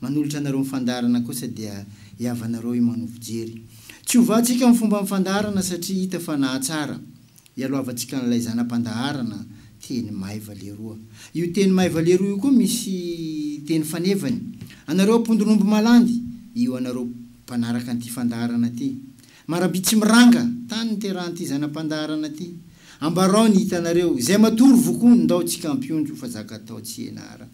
Manolotra anareo ny fandaharana kosa dia hihavanareo i Mano Fijery. Tsy ho vatsika ny fomban'ny fandaharana satria hita fa nahatsara. Ialohavantsika an'ilay zana-pandaharana teny maiva leroa. Io teny maiva leroa io koa misy teny fanevany. Anareo ampondon'omby malandy, io anareo mpanaraka an'ity fandaharana ity. Marabia tsy miranga, tany niterahan'ity zana-pandaharana ity. Ambarao ny hitanareo. Izay matory vokoa, ndao tsika ampionjo fa zaka atao tsy henara.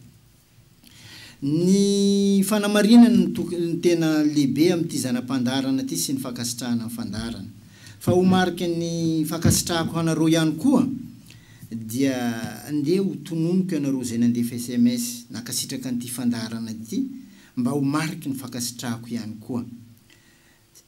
Ny fanamarinany ny toky no tena lehibe amin'ity zana-pandaharana ity sy ny fankasitrahana ny fandaharana. Fa ho mariky ny fankasitrahako hanareo ihany koa dia ndeha ho tononiko ianareo izay nandefa sms nankasitraka an'ity fandaharana ity mba ho mariky ny fankasitrahako ihany koa.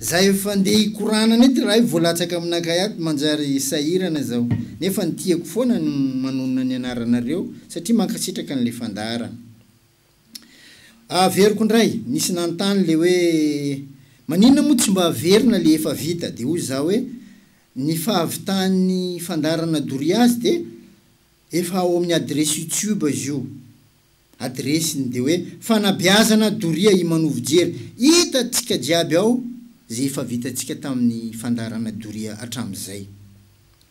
Za efa ndeha hikoranana eto raha vao latsaka aminakay ato manjary sahirana zaho nefa ny tiako foana ny manonona ny anaranareo satria mankasitraka anle fandaharana a averiko ndray nisy nanontany le hoe maninona moa tsy mba averina le efa vita de hoy za hoe ny fahavitan'ny fandaharana doria azy de efa ao amin'ny adresse youtube izy io adiresiny dia hoe fanabeazana doria i manovo jery hita tsika jiaby ao ze efa vita tsika taminy fandaharana doria atram zay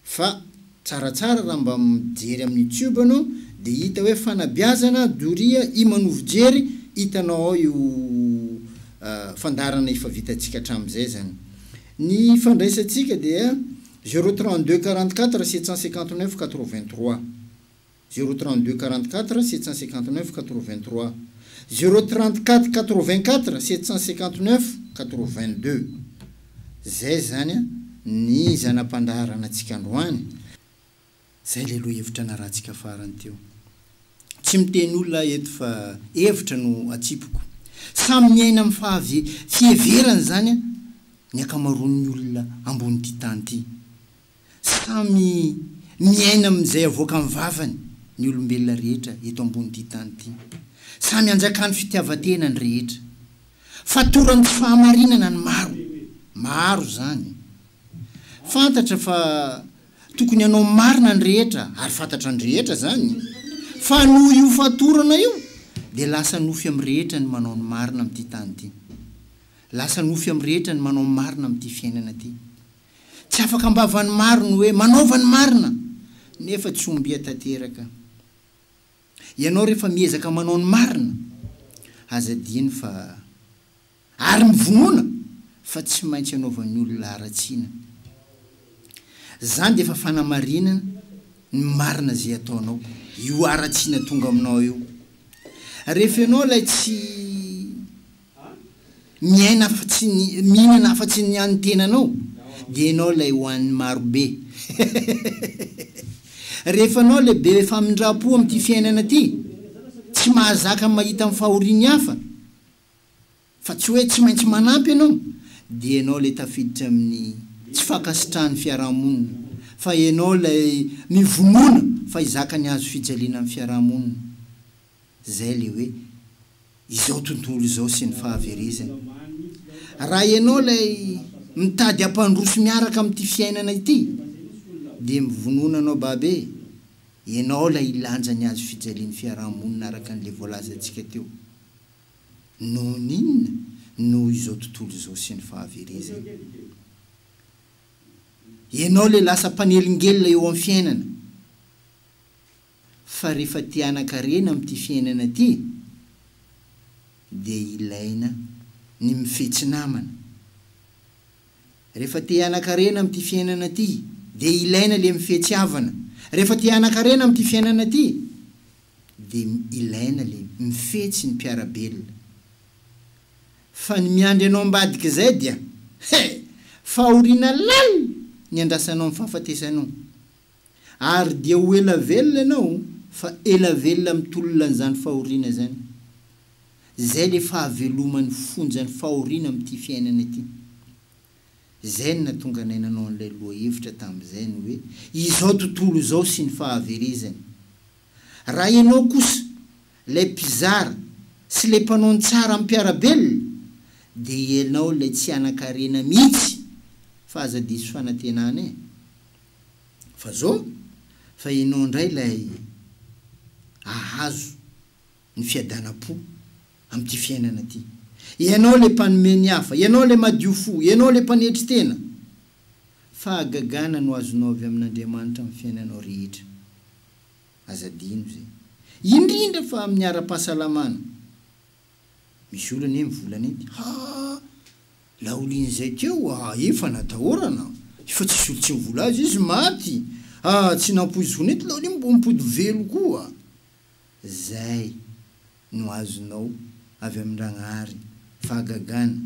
fa tsaratsara raha mba mijery aminy youtube anao dia hita hoe fanabeazana doria i manovo jery hitanao ao io fandaharana efa vita tsika atram zay zany ny fandraisa tsika dia zero trente deux quarante quatre sept cent cinquante neuf quatre vingt trois. Zéro trente deux quarante quatre sept cent cinquante neuf quatre vingt trois Zéro trente quatre quatre vingt quatre sept cent cinquante neuf quatre vingt deux Zay zany a ny zana-pandaharana tsika androany Zay le lohevitra narahantsika farany teo Tsy miteny olona aho eto fa hevitra no atsipiko Samy miaina am fahavie fieverany zany a ny akamaroan'ny olona ambony ty tany ty Samy miaina amin'izay avoakan'ny vavany ny olombelona rehetra eto ambonin'ity tany ity. Samy anjakan'ny fitiavan-tena ny rehetra. Fatoran'ny tsy fahamarinana ny maro. Maro izany. Fantatra fa tokony hanao marina ny rehetra ary fantatra ny rehetra izany. Fa noho io fatorana io dia lasa nofy amin'ny rehetra ny manao ny marina amin'ity tany ity. Lasa nofy amin'ny rehetra ny manao marina amin'ity fiainana ity. Tsy afaka am-bavan'ny maro ny hoe manaova ny marina nefa tsy ombia tanteraka. Ianao rehefa miezaka manao ny marina, aza adino fa ary mivonona fa tsy maintsy anaovan'ny olona haratsiana. Izany dia efa fanamarinana ny marina izay ataonao io haratsiana tonga aminao io. Rehefa ianao ilay tsy. miaina afatsy ny mihinana afatsy ny an'ny tenanao dia ianao ilay hohanin'ny marobe hehehehehe rehefa anao ilay be famindrampo amin'ity fiainana ity tsy mahazaka mahita ny fahorian'ny hafa fa tsy hoe tsy maintsy manampy ianao dia ianao ilay tafiditra amin'ny tsy fankasitrahan'ny fiarahamonina fa ianao ilay mivonona fa hizaka ny hazo fijaliana amin'ny fiarahamonina. Zay le hoe izao tontolo izao sy ny fahaverezany. Raha ianao ilay mitady hampandroso miaraka amin'ity fiainana ity dia mivonona anao baba e! Ianao ilay hilanja ny hazo fijalian'ny fiaraha-monina araka an'ilay voalazantsika teo. Noho ny inona? Noho izao tontolo izao sy ny fahaverezany. Ianao ilay lasa mpanelingelina eo amin'ny fiainana. fa rehefa te hanankarena amin'ity fiainana ity dia ilaina ny mifetsy namana. Rehefa te hanankarena amin'ity fiainana ity dia ilaina ilay mifetsy havana. Rehefa te hanankarena amin'ity fiainana ity dia ilaina ilay mifetsy ny mpiara-belona. Fa ny miandry anao ambadik'izay dia he! fahoriana lalina ny andrasanao ny fahafatesanao. Ary dia ho ela velona ianao fa ela velona amin'ny tolona an'izany fahoriana izany. Izay ilay fahaveloman'ny fonjan'ny fahoriana amin'ity fiainana ity. Izay no nahatonga anay nanao an'ilay lohahevitra tamin'izay ny hoe izao tontolo izao sy ny fahaverezany. Raha ianao kosa ilay mpizara sy ilay mpanao ny tsara amim-piarabelona dia ianao ilay tsy hanan-karena mihitsy fa aza diso fanantenana e! Fa zo? Fa ianao indray ilay hahazo ny fiadanam-po amin'ity fiainana ity. Ianao ilay mpanome ny hafa, ianao ilay madio fo, ianao ilay mpanetry tena. Fahagagana no azonao avy amin'Andriamanitra amin'ny fiainanao rehetra. Aza adino izay. Indrindra fa amin'ny ara-pahasalamana. Misy olona anie mivola an'ity. Ha! Laolin'izay keo a! Efa natahorana. Efa tsisy olo tsy mivola azy. Izy maty. Ha! Tsy nampoiziko nety laolin mbo mipody velo koa. Zay no azonao avy amin-dragnahary. Fahagagana.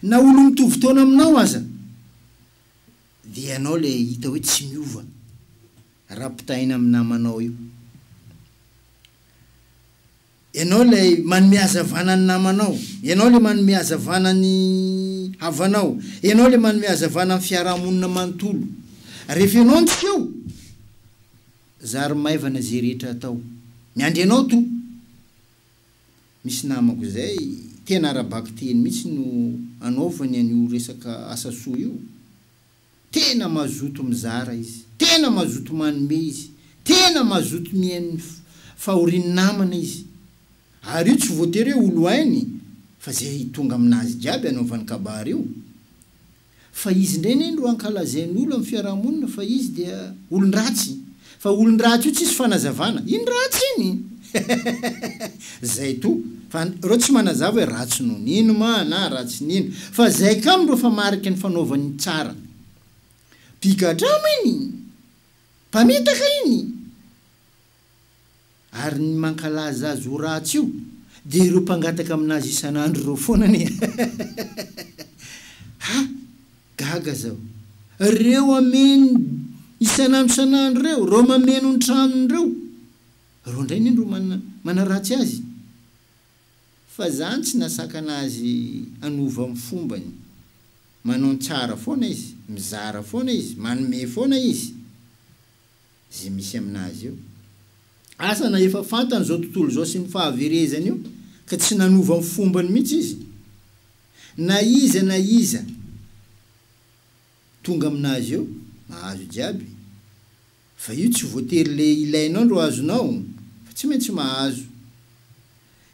Na olo mitovy taona aminao aza. Dia ianao le hita hoe tsy miova. Rapitaina amin'ny namanao io. Ianao ilay manome hazavana ny namanao. Ianao ilay manome hazavana ny havanao. Ianao ilay manome hazavana ny fiaraha-monina manontolo. Rehefa Ianao no tsy eo, zary maivana izay rehetra atao. Miandry Anao tompoko. Misy namako izay, tena ara-bakiteny mihitsy no anaovany an'io resaka asa soa io. Tena mazoto mizara izy, tena mazoto manome izy, tena mazoto mihaino ny fahorian'ny namana izy. Ary io tsy voatery hoe olo hainy fa zay tonga aminazy jiaby anaovany kabary io. Fa izy ndray neny ro ankalazain'olo am fiarahamonina fa izy dia olondratsy Fa olon-dratsy io tsisy fanazavana iny ratsy iny zay to fa reo tsy manazava hoe ratsy noho ny ino ma na ratsy ny ino fa zay kamo reo fa mariky ny fanaovany ny tsara pigadrama iny mpamitaka iny Ary ny mankalaza azy ho ratsy io dia ireo mpangataka amin'azy isan'andro ireo foana anie ha! Gaga zaho. Reo ameno isan'andro isan'andro reo, reo mameno ny tranony reo, reo ndray anie no manaratsy azy. Fa zany tsy nasakana azy hanova ny fombany. Manao ny tsara foana izy, mizara foana izy, manome foana izy. izay misy amin'azy io. Asa na efa fantany izao tontolo izao sy ny fahaverezany io ka tsy nanova ny fombany mihitsy izy? Na iza na iza tonga amin'azy io, mahazo jiaby. Fa io tsy voatery le ilainao ndro azonao fa tsy maintsy mahazo.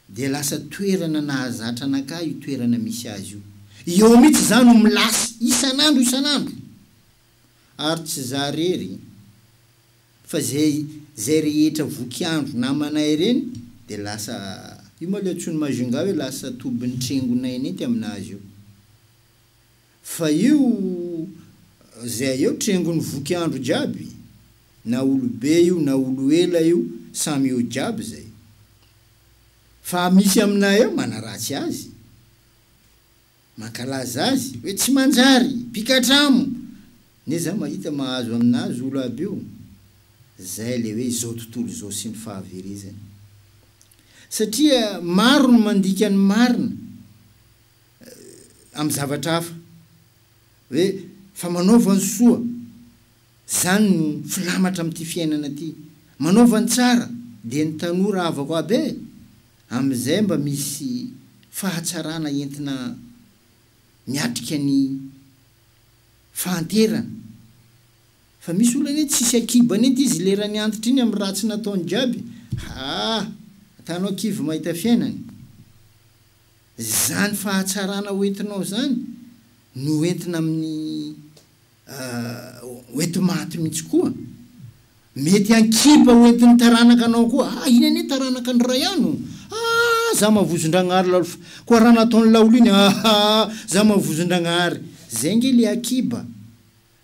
Dia lasa toerana nahazatra an'akahy io toerana misy azy io. Eo mihitsy za no milasy isan'andro isan'andro. ary tsy za rery fa zay zay rehetra voky andro namanay ireny dia lasa io ma le antsoin'i Majunga hoe lasa tobin'ny trengonay nenty aminazy io fa io zay eo trengon'ny voky andro jiaby na olobe io na olo ela io samy eo jiaby zay fa misy aminay ao manaratsy azy. Mankalaza azy hoe tsy manjary, mpikatramo, ne za mahita mahazo aminazy olo aby io, zay le hoe izao tontolo izao sy ny fahaverezany. Satria maro ny mandika ny marina am zavatra hafa hoe fa manaova ny soa. Zany no filamatra amty fiainana ty. Manaova ny tsara dia ny tanora havako aby e! Amizay mba misy fahatsarana entina miatrika ny fahanterana. Fa misy olona anie tsisy akiba net izy lerany antitra iny am ratsy nataony jiaby haa atanao kivy mahita fiainana. Zany fahatsarana hoentinao zany no entina aminy Hoenti maty mihitsy koa. Mety an-kiba hoentin'ny taranaka anao koa. Ah, iny anie taranaka an'i Ryan o. Ah, za mavozon-dragnahary lalf. Koa raha nataon'i Laolo iny, aha, za mavozon-dragnahary. Zay ange le akiba.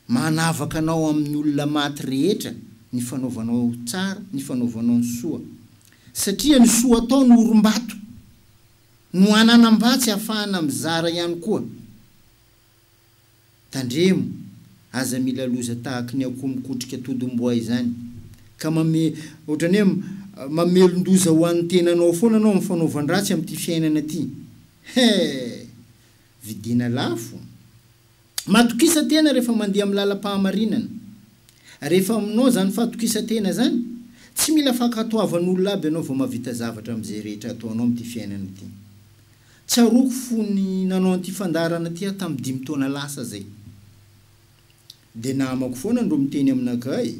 Manavaka anao amin'ny olona maty rehetra ny fanaovanao tsara, ny fanaovanao ny soa. Satria ny soa atao no orim-bato, no ananam-batsy ahafahana mizara ihany koa. Tandremo, aza mila loza tahaky ny akoho mikotrika todomboay zany ka mame otrany hoe mamelondoza ho an'ny tenanao foana anao amin'ny fanaovan-dratsy amin'ity fiainana ty. He! Vidiana lafo. Matokisa-tena rehefa mandeha amin'ny lalam-pahamarinana. Rehefa aminao zany fatokisa-tena zany, tsy mila fankatoavan'olona aby anao vao mahavita zavatra amin'izay rehetra ataonao amin'ity fiainana ity. Tsaroako fony nanao an'ity fandaharana ity aho tamin'ny dimy taona lasa izay. Dia namako foana ndro miteny aminakah e.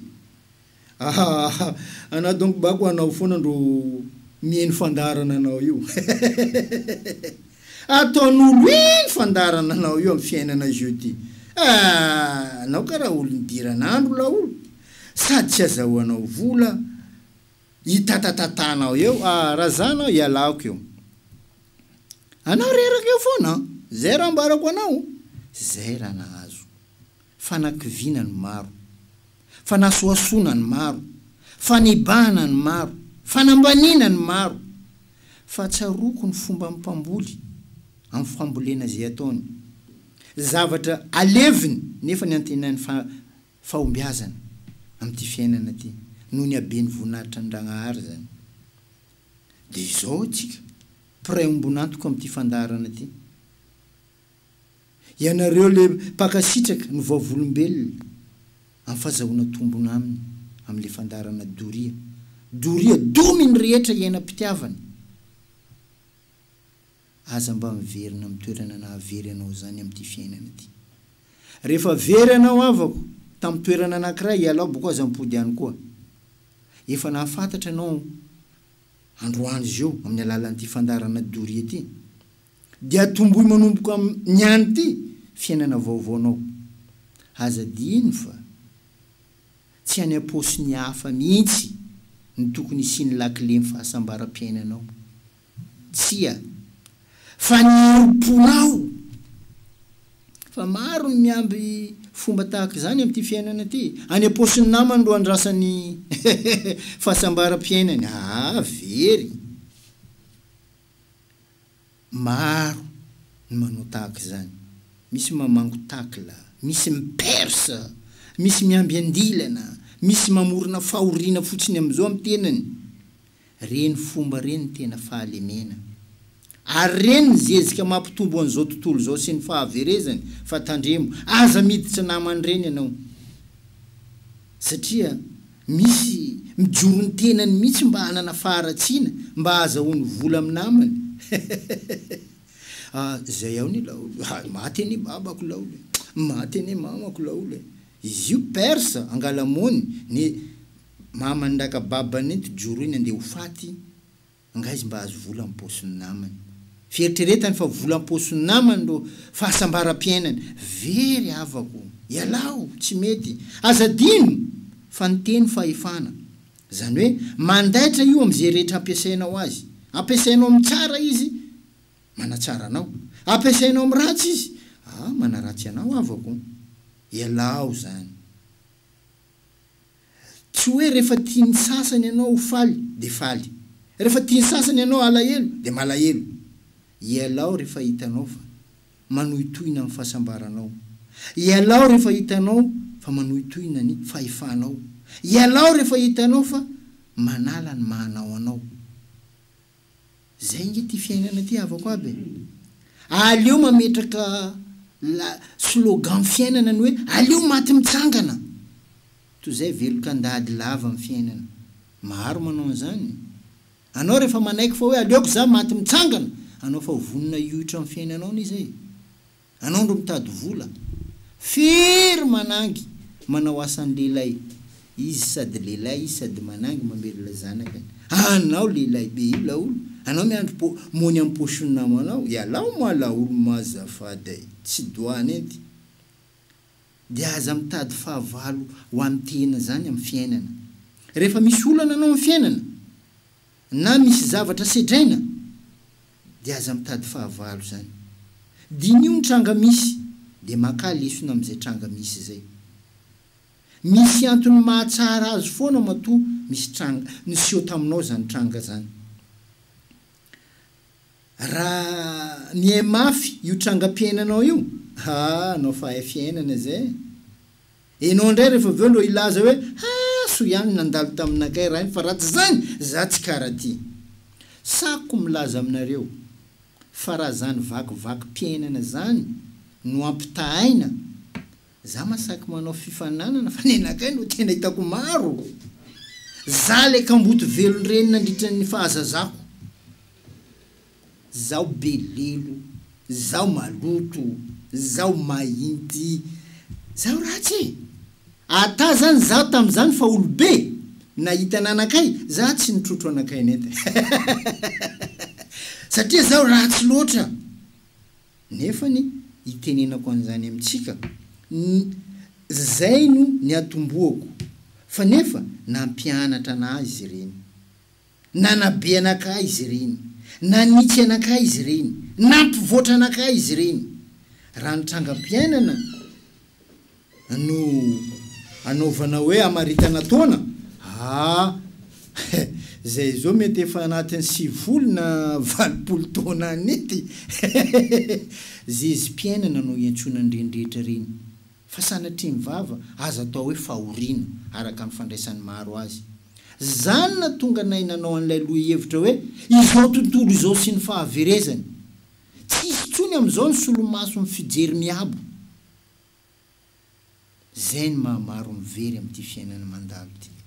Ahahaha anah donc bako anao foana ndro miheno fandaharana anao io. Hehehehe. Ataon'olo iny fandaharana anao io amin'ny fiainana jeu ty. Aah anao karaha olo nidiran'andro laolo. Sady tsy azahoanao vola. Hitatatatànao eo ah, raha za anao ialako eo. Anao reraka eo foana an! Zay raha ambarako anao, zay raha nahazo. Fanakiviana ny maro. Fanasohasoana ny maro. Fanibahana ny maro. Fanambaniana ny maro. Fa tsaroako ny fomban'ny mpamboly amin'ny fambolena izay ataony. Zavatra aleviny nefa ny antenainy fa Fahombiazana amin'ity fiainana ity noho ny haben'ny voninahitran'i Ndragnahary izany. Dia izao isika mpiray ombon'antoka amin'ity fandaharana ity. Ianareo ilay mpankasitraka no vavolombelona amin'ny fazahoana tombony aminy amin'ilay fandaharana doria. Doria domy ny rehetra iainam-pitiavana. Aza mba miverina amin'ny toerana nahavery anao izany amin'ity fiainana ity. Rehefa very anao havako tamin'ny toerana anankiray, ialao boko aza mipody any koa. Efa nahafantatra ianao androany izio amin'ny alalan'ity fandaharana Doria ity. Dia tomboy manomboka amin'ny any ity fiainana vaovaonao. Aza adino fa tsy any am-paosin'ny hafa mihitsy no tokony hisian'ny lakilen'ny fahasambaram-piainanao. Tsia. Fa ny herim-ponao. Fa maro ny miamby fomba tahaka izany amin'ity fiainana ity. Any am-paosin'ny namany no andrasany fahasambaram-piainany. Aa very. Maro ny manao tahaka izany. Misy mamango tacle, misy mi-perce, misy miamby andilana, misy mamorona fahoriana fotsiny amin'izao amin'ny tenany. Reny fomba reny ny tena fahalemena. Ary reny ny zezika mampitombo an'izao tontolo izao sy ny fahaverezany fa tandremo, aza miditra naman'ireny ianao. Satria misy mijoro ny tenany mihitsy mba hanana faharatsiana, mba hahazahoany vola amin'ny namany. Ah, izay ao ny laolo e! Hay maty anie babako laolo e! Maty anie mamako laolo e! Izy io persa, angala-mony, ny. Maman'i Ndakababa nenti-djoro iny andeha ho faty, angaha izy mba ahazo vola am-paosin'ny namany. Fieritreretany fa vola am-paosin'ny namany no fahasambaram-piainany. Very havako! Ialao! Tsy mety! Aza adino! Fa ny teny fahefana. Izany hoe mandaitra io amin'izay rehetra ampiasainao azy. Ampiasainao amin'ny tsara izy, manatsara anao. Ampiasainao amin'ny ratsy izy, ah, manaratsy anao havako! Ialao izany! Tsy hoe rehefa tian'ny sasany ianao ho faly dia faly. Rehefa tian'ny sasany ianao halahelo dia malahelo. Ialao rehefa hitanao fa manohitohina ny fahasambaranao. Ialao rehefa hitanao fa manohitohina ny fahefanao. Ialao rehefa hitanao fa manala ny maha anao anao. Zay nge ty fiainana ty havako aby e! Aleo mametraka la slogan fiainana ny hoe aleo maty mitsangana toy zay velon-kandady lava amin'ny fiainana. Maro manao an'izany. Anao rehefa manaiky fa hoe aleoko za maty mitsangana, anao fa vonona hioitra amin'ny fiainanao anie zay e! Anao ndro mitady vola, firy manangy manao asan lehilahy izy sady lehilahy izy sady manangy mamelona zanakany, anao lehilahy be io laolo anao miandry po mony am pochon namanao, ialao moa laolo moa azafady ai, tsy dois nenty de aza mitady fahavalo ho an tena zany am fiainana, rehefa misy olana anao am fiainana, Na misy zavatra sedraina dia aza mitady fahavalo zany. Diniho ny tranga misy dia makà lesona amin'izay tranga misy izay. Misy antony mahatsara azy foana matoa misy tranga niseho taminao zany tranga zany. Raha mihaimafy io trangam-piainanao io, haa anao fa hay fiainana zay e! Enao ndray refa avy eo ndro hilaza hoe ha soa ihany nandalo taminakay rainy fa raha tsy zany za tsy kara ty. Sako milaza aminareo fa raha zany vakivaky piainana zany no ampitahaina za masaky manao fifananana fa nenakay no tena hitako maro. Za le kamboty velon-dreny nandritran'ny fahazazako. Zaho be lelo, zaho maloto, zaho mahinty, zaho ratsy e! Ata zany zaho tamzany fa olobe nahita ananakay za tsy nitrotro anakay net e! Satria zaho ratsy loatra! Nefany itenenako anzany amintsika ny zay no niatombohako fa nefa nampianatra anah izy ireny. Nanabe anakah izy ireny. Nanitsy anakah izy ireny. Nampivoatra anakah izy ireny. Raha ny trangam-piainana no anaovana hoe hamaritana taona, ah eh, izay izao mety efa anatin'ny sivifolo na valopolo taona any ity. Zezim-piainana no iantsoana an'ireny rehetra ireny. Fa sanatria ny vava aza atao hoe fahoriana, araka ny fandraisan'ny maro azy. Zany natonga anay nanao an'ilay lohihevitra hoe izao tontolo izao sy ny fahaverezany. Tsy hisy intsony amin'izao ny solomason'ny fijery miabo. Zay ny maha maro ny very amin'ity fiainana mandalo ity.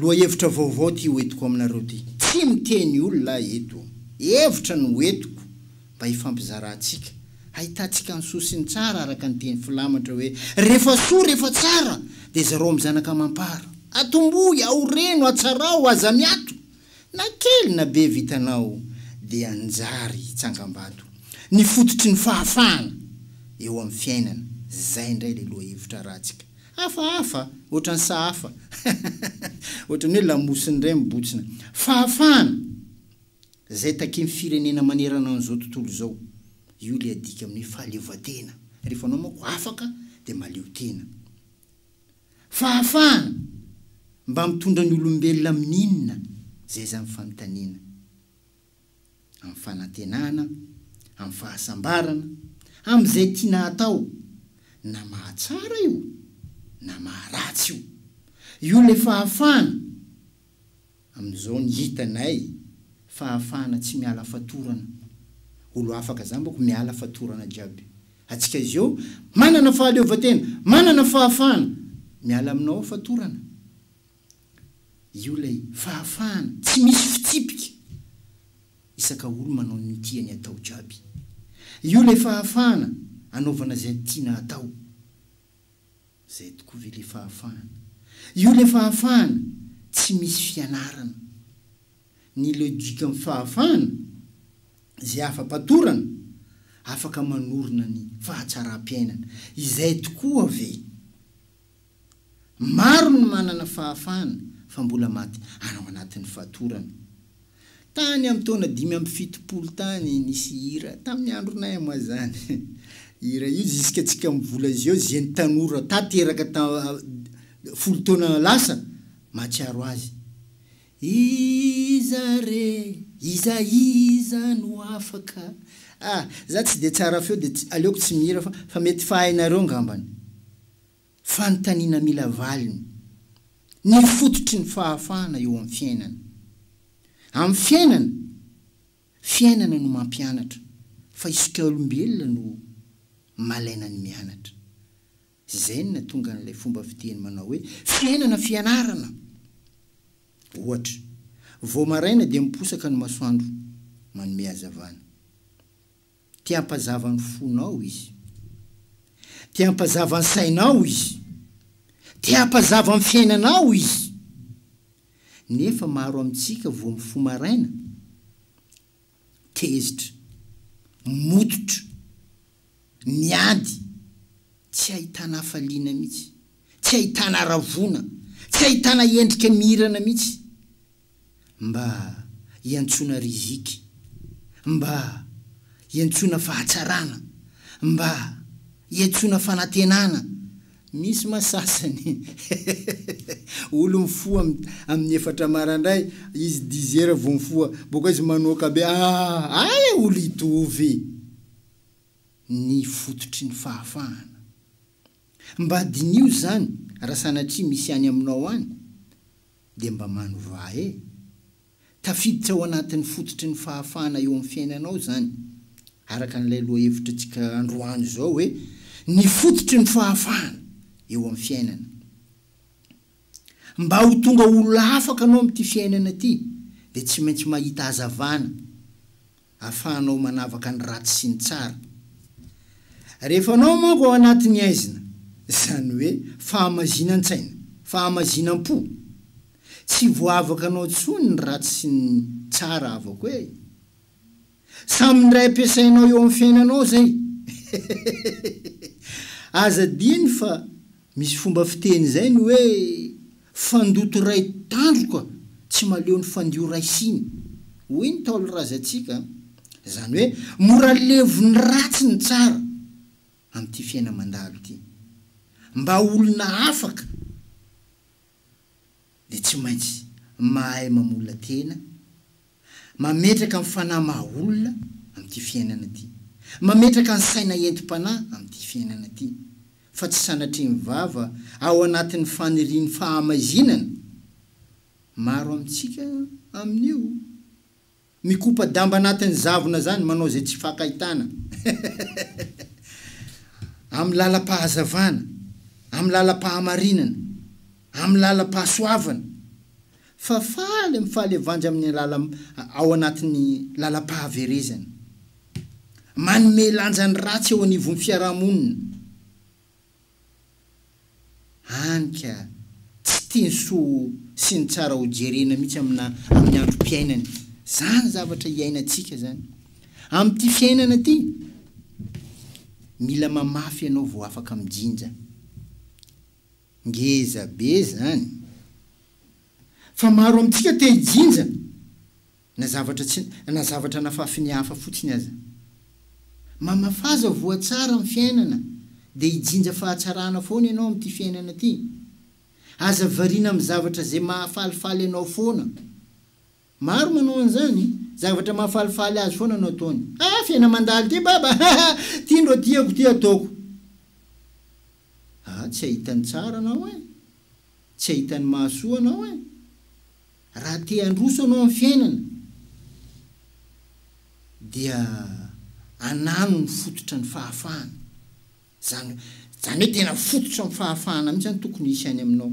Lohahevitra vaovao ity hoentiko aminareo ity. Tsy miteny olona aho eto ô. Hevitra no hoentiko mba hifampizarantsika, hahitantsika ny soa sy ny tsara araka ny teny filamatra hoe, Rehefa soa, rehefa tsara, dia zarao amin'ny zanaka amam-para. Atombohy, aoreno, atsarao, aza miato. Na kely na be vitanao dia anjary tsangambato. Ny fototry ny fahafahana eo amin'ny fiainana. Izay indray ilay lohahevitra arantsika. Hafahafa ohatran'ny sahafa. Ohatran'ny hoe lamosin'ny indray mibotsina. Fahafahana izay takian'ny firenena manerana an'izao tontolo izao. Io ilay adika amin'ny hoe fahaleovantena. Rehefa anao manko afaka dia mahaleo tena. Fahafahana mba mitondra ny olombelona amin'inona? Izay izany fanontaniana. amin'ny fanantenana, amin'ny fahasambarana, amin'izay tiana atao, na mahatsara io na maharatsy io. Io ilay fahafahana amin'izao ny hitanay, fahafahana tsy miala fatorana. Olo afaka za mbako miala fatorana jiaby. Atsika izao manana fahaleovantena, manana fahafahana miala aminao fatorana. Io ilay fahafahana tsy misy fitsipika isaka olo manao ny tiany atao jiaby. Io ilay fahafahana anaovana izay tiana atao. Izay tokoa ve ilay fahafahana? Io ilay fahafahana tsy misy fianarana. Ny logikan'ny fahafahana, izay afa-patorana, afaka manorina ny fahatsaram-piainana. Izay tokoa ve? Maro ny manana fahafahana fa mbola maty ao anatin'ny fatorana. Tany amin'ny taona dimy amby fitopolo tany nisy hira, tamin'ny andronay moa izany, hira io ziska antsika mivola izao zeny tanora tateraka ta folo taona lasa mahatsiaro azy. Iza re, iza iza no afaka ah, za tsy dia tsara feo dia aleoko tsy mihira fa fa mety fahainareo ngambany. Fanontaniana mila valiny. Ny fototry ny fahafahana eo amin'ny fiainana. Amin'ny fiainana, fiainana no mampianatra fa isikaolombelona no malaina ny mianatra. Izay no nahatonga an'ilay fomba fiteny manao hoe fiainana fianarana. Ohatra, vao maraina dia miposaka ny masoandro manome hazavana. Te hampazava ny fonao izy. Te hampazava ny sainao izy. Te hampazava ny fiainanao izy. Nefa maro amintsika vao mifoha maraina, tezitra, mototra, miady, tsy ahitana hafaliana mihitsy, tsy ahitana haravoana, tsy ahitana endrika mihirana mihitsy. Mba iantsoana riziky. Mba iantsoana fahatsarana. Mba iantsoana fanantenana. Misy ma sasany olo mifoha amin'ny efatra marandray izy dix heures vao mifoha boka izy manoaka be ah ay olo hitovy ny fototry ny fahafahana Mba diniho izany raha sanatria misy any aminao any dia mba manovà e! Tafiditra ao anatin'ny fototry ny fahafahana eo amin'ny fiainanao izany, araka an'ilay lohahevitritsika androany izao hoe ny fototry ny fahafahana eo amin'ny fiainana. Mba ho tonga olona afaka anao amin'ity fiainana ity dia tsy maintsy mahita hazavana. afahanao manavaka ny ratsy sy ny tsara. Rehefa anao manko ao anatin'ny aizina, izany hoe fahamazinan-tsaina, fahamazinam-po, tsy voavakanao tsony ny ratsy sy ny tsara avako e! Samy indray ampiasainao eo amin'ny fiainanao izay! Aza adino fa Misy fomba fiteny izay ny hoe fandoto iray tandroka tsy maleo ny fandio iray siny, hoy ny Ntaolo razantsika a! Izany hoe mora levon'ny ratsy ny tsara amin'ity fiaina mandalo ity. Mba olona afaka dia tsy maintsy mahay mamolona tena, mametraka ny fanahy maha olona amin'ity fiainana ity, mametraka ny saina entim-panahy amin'ity fiainana ity, fa tsy sanatria mivava ao anatin'ny fanirian'ny fahamaizinana. Maro amintsika amin'io. Mikopa damba anatin'ny zavona zany manao zay tsy fakahitana amin'ny lalam-pahazavana, amin'ny lalam-pahamarinana, amin'ny lalam-pahasoavana fa faly amin'ny fahalevanja amin'ny alalam ao anatin'ny lalam-pahaverezana. Manome lanja ny ratsy eo anivon'ny fiarahamonina. Any ka! Tsy tia ny soa sy ny tsara ho jerena mihitsy amina amin'ny androm-piainany. Zany zavatra iainantsika zany. Amin'ity fiainana ity, mila mamafy ianao vao afaka mijinja. Ngeza be zany. Fa maro amintsika te hijinja. Na zavatra tsy, na zavatra nafafiny hafa fotsiny aza. Mamafaza voa tsara amin'ny fiainana, dia hijinja fahatsarana foana ianao amin'ity fiainana ity. Aza variana amin'ny zavatra izay mahafalifaly anao foana. Maro manao an'izany, zavatra mahafalifaly azy foana no ataony. Ah, fiaina mandalo ity baba ah! ah! Ity ndro tiako ity ataoko. Ah, tsy ahita ny tsara anao eh! Tsy ahita ny mahasoa anao eh! Raha te handroso ianao amin'ny fiainana dia anano ny fototra ny fahafahana. Izany izany hoe tena fototra ny fahafahana mihitsy no tokony hisy any aminao.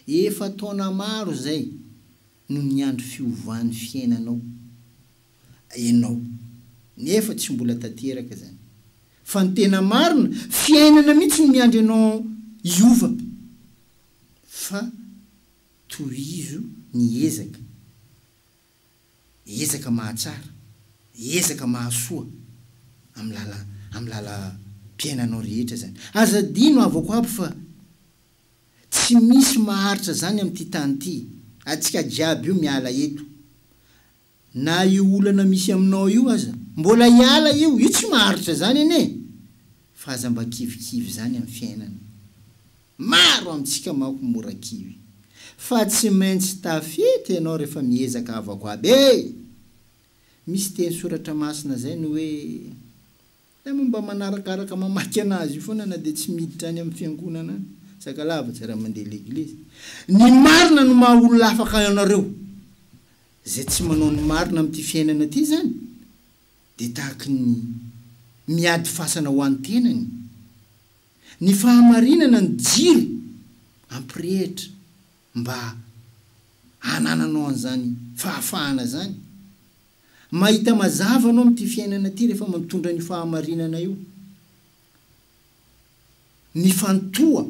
Efa taona maro izay no niandry fiovan'ny fiainanao ianao nefa tsy mbola tanteraka izany. Fa ny tena marina, fiainana mihitsy no miandry anao hiova. fa tohizo ny ezaka, ezaka mahatsara, ezaka mahasoa amin'ny lala amin'ny lalam-piainanao rehetra izany. Aza adino havako aby fa tsy misy maharitra izany amin'ity tany ity, antsika jiaby io miala eto Na io olana misy aminao io aza mbola hiala io, io tsy maharitra zany anie fa aza mba kivikivy zany am fiainana, maro amitsika manko mora kivy fa tsy maintsy tafita ianao refa miezaka havako aby e! Misy teny soratra masina zay ny hoe. Hay moa mba manarakaraka mamaky anazy io foana na dia tsy miditra any amin'ny fiangonana any. Sakalava tsy raha mandeha leglizy. Ny marina no maha olona afaka ianareo. Izay tsy manao ny marina amin'ity fiainana ity izany dia tahaky ny miady fasana ho an'ny tenany. Ny fahamarinana no jiro ampirehitra mba hanananao an'izany fahafahana izany. Mahita mazava anao amin'ity fiainana ity rehefa mitondra an'io fahamarinana io. Mifantoha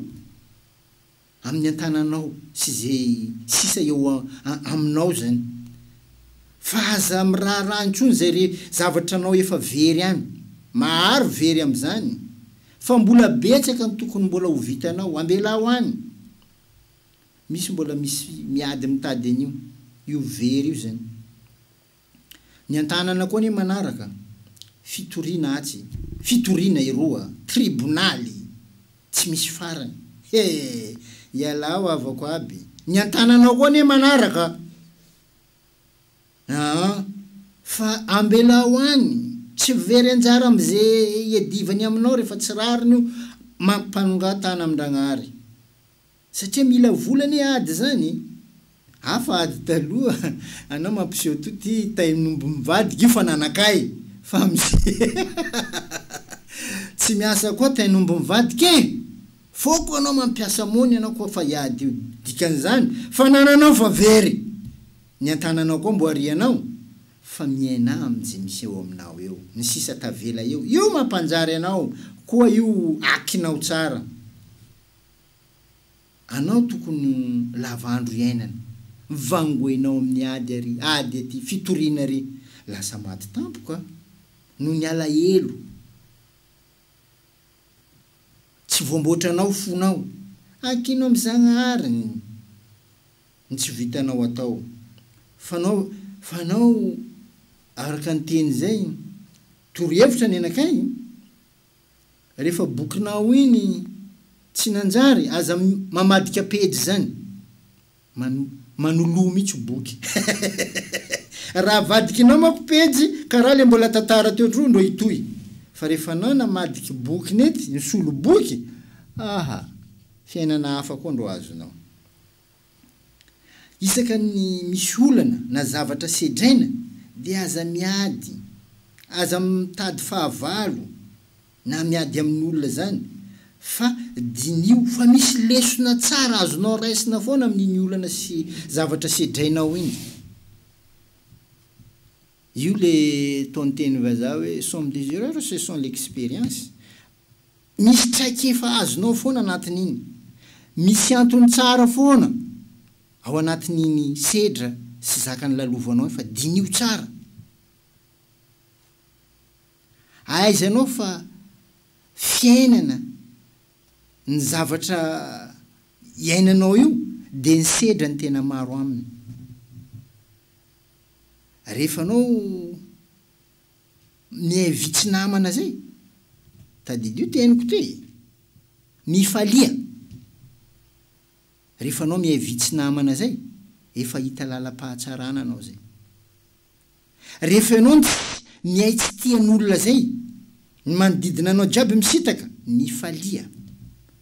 amin'ny an-tananao sy izay sisa eo aminao izany. Fa aza miraharaha intsony izay zavatra anao efa very any. Maharo very amin'izany. Fa mbola betsaka ny tokony mbola ho vitanao. Ambelaho any. Misy mbola misy miady mitady an'io io very io zany. Ny antanana koa anie manaraka, fitoriana atsy, fitoriana eroa, tribonaly tsy misy farany, he! ialao havako aby, ny antananao koa anie manaraka aa, fa ambelao any, tsy very anjara amze iadivany aminao refa tsy rariny io, mampanongatahana amin-dragnahary. Satria mila vola anie ady zany e! Hafa ady taloha anao mampiseho to ty tain'omby mivadika io fa nanakay fa amzay tsy miasa koa tain'omby mivadika e! Foko anao mampiasa mony anao koa fa hiady io dikan'izany fanananao fa very ny antananao koa mboari anao fa miaina amnje miseho aminao eo ny sisa tavela eo io mampanjary anao koa io akinao tsara Anao tokony ho lava andro iainana. Mivango enao amin'ny ady ary ady aty fitoriana ry lasa maty tampoka noho ny alahelo tsy voamboatranao fonao ankino amin'i Zagnahary ny tsy vitanao atao fanao fanao araka ny teny zay torohevitra ny anakay. Refa bokinao iny tsy nanjary aza mamadika pejy zany man manoloa mitsy boky raha avadikinao mako pejy karaha le mbola tantara teo tro ndro hitohy fa refa anao namadiky boky nety nisolo boky aha fiainana hafa koa ndro azonao. Isaka ny misy olana na zavatra sedraina dia aza miady, aza mitady fahavalo na miady amin'olona zany fa diniho fa misy lesona tsara azonao raisina foana amin'iny olana sy zavatra sedrainao iny. Io le tonten'ny vazaha hoe somme des erreurs ce sont l'experience Misy traikefa azonao foana anatin'iny. Misy antony tsara foana ao anatin'iny sedra sy zaka nolalovanao iny fa diniho tsara. Ahaizanao fa fiainana ny zavatra iainanao io dia ny sedra ny tena maro aminy. Rehefa anao. Miaivi tsy namana zay. Tadidio teniko ty e! Mifalia rehefa anao miaivi tsy namana zay, efa hita lalam-pahatsarana anao zay. Rehefa ianao no tsy mihay tsy tia ny olona zay, ny manodidina anao jiaby misitaka, mifalia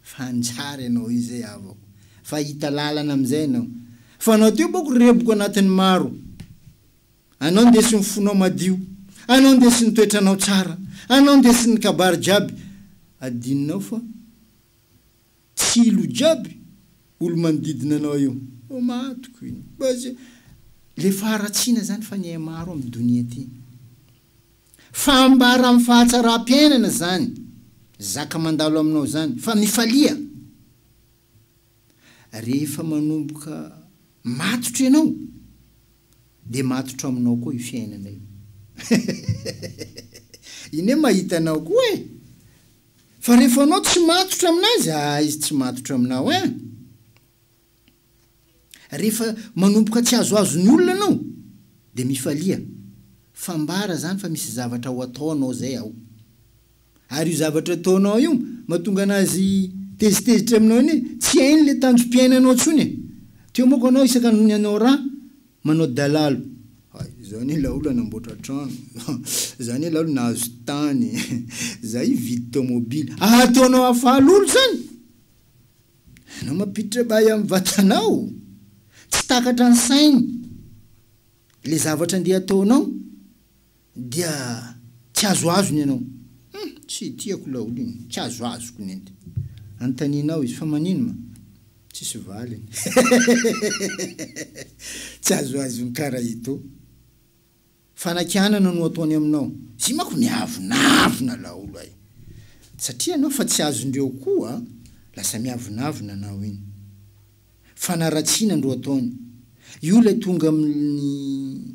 fa hanjary ianao io zay avao fa hahita lalana amizay ianao. Fa anao teo boko reboka anatin'ny maro. Anao ndeso ny fonao madio, anao ndeso ny toetranao tsara, anao ndeso ny kabary jiaby adinonao fa tsy ilo jiaby olomanodidina anao io ô matiko iny base le faharatsiana zany fa nihay maro am donia ty fa ambara am fahatsarampiainana zany zaka mandalo aminao zany fa mifalia Rehefa manomboka matotra ianao, dia matotra aminao koa io fiainana io. Iny hoe mahita anao koa e! Fa rehefa anao tsy matotra aminazy, ah, izy tsy matotra aminao eh! Rehefa manomboka tsy azoazo ny olona anao, dia mifalia. Fambara zany fa misy zavatra ho ataonao zay ao. Ary io zavatra ataonao io mahatonga anazy tezitezitra aminao iny hoe tsy hainy ilay tanjom-piainanao intsony e! Teo manko anao isaka nony anao ra manao dalalo. Hay, za anie laolo nanamboatra trano, za anie laolo nahazo tany, za hividy tomobily. Ahataonao hahafaly olo zany? Enao mampiditra bay amin'ny vatanao. Tsy takatra ny sainy le zavatra andeha ataonao. Dia tsy azoazo ny anao. Hum, tsy tiako laolo iny, tsy azoazoko ny ente. Anontanianao izy, fa manino ma? Tsisy valiny. Tsy azoazon'i Karaito. Fanakianana no ataony aminao. Izy manko miavonavona laolo ay. Satria anao fa tsy azondreo koa, lasa miavonavona anao iny. Fanaratsiana ndro ataony. Io ilay tonga amin'ny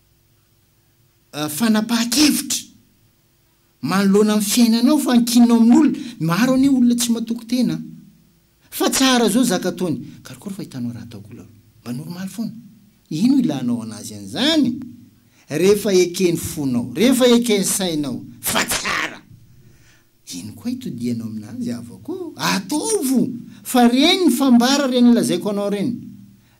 fanapahan-kevitra manoloana ny fiainanao fa ankinina ao amin'olona, maro anie olona tsy matoky tena an! Fa tsara izao zaka ataony, karokaroy fa hitanao raha ataoko lalo, mba normaly foana, ino ilanao anazy an'izany? Rehefa eken'ny fonao, rehefa eken'ny sainao fa tsara, ino koa itodihanao aminazy havako ô? Ataovo! Fa ireny fambara ireny lazaiko anao ireny,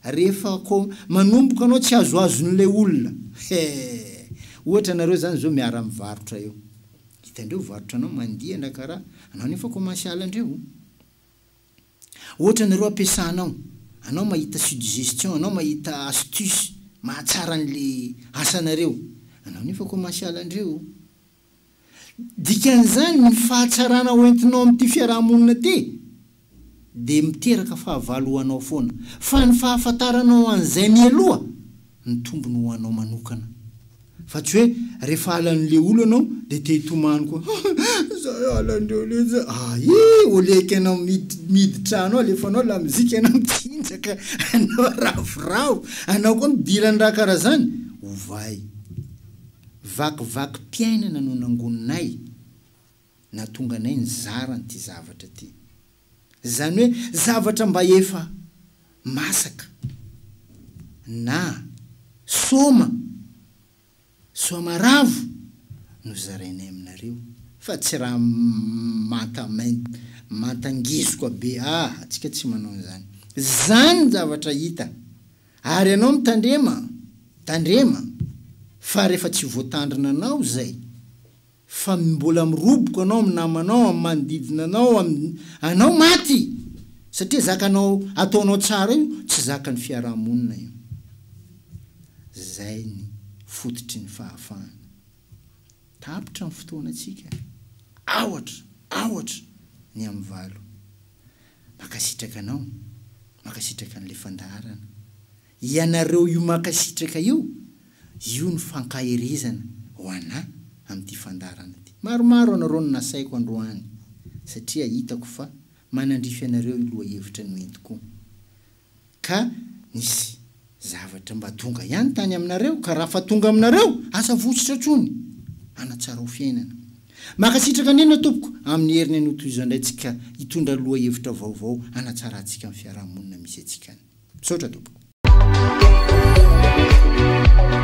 Rehefa ko manomboka anao tsy azoazon'ilay olona he! ohatra nareo zany zao miara mivarotra eo hitandreo varotra anao mandia ndra karaha anao nefa commencial ndreo ohatra nareo ampiasanao anao mahita sudgestion anao mahita astuce mahatsara anle asanareo anao nefa commencial ndreo Dikan'izany, ny fahatsarana ho entinao amin'ity fiaraha-monina ity dia miteraka fahavalo ho anao foana, fa ny fahafantaranao an'izay mialoha no tombony ho anao manokana. Fa tsy hoe rehefa halan'le olo anao dia te hitomany koa, za e halandreo le za, ahi, oleky anao midy trano alefanao lamozika anao mitsinjaka anao ravoravo anao koa midiran-dra kara zany, ovay. Vakivakim-piainana no nangoninay nahatonga anay nizara an'ity zavatra ity. Izany hoe zavatra mba efa masaka na soma, soamaravo no zarainay aminareo fa tsy raha manta manta ngizoka be ah, antsika tsy manao an'izany. Izany ny zavatra hita. Ary ianao mitandrema, tandrema, fa rehefa tsy voatandrina anao izay, fa mbola miroboka anao amin'ny namanao, amin'ny manodidina anao, amin'ny, anao maty! Satria zakanao, ataonao tsara io, tsy zakan'ny fiaraha-monina io. Izay ny fototry ny fahafahana. Tapitra ny fotoanantsika. Aohatra, aohatra ny amin'ny valo. Mankasitraka anao, mankasitraka an'ilay fandaharana. Ianareo io mankasitraka io, io no fankaherezana ho anà amin'ity fandaharana ity. Maromaro anareo no nasaiko androany satria hitako fa manandrify anareo io lohahevitra noentiko io. Ka nisy zavatra mba tonga ihany tany aminareo, ka raha fa tonga aminareo, aza votsotra tsony. Manatsarao fiainana. Makasitraka anena tompoko aminy heriny anotohizan dray tsika hitondra loha hevitra vaovao hanatsara tsika ny fiaraha monina misy atsika any. Misaotra tompoko.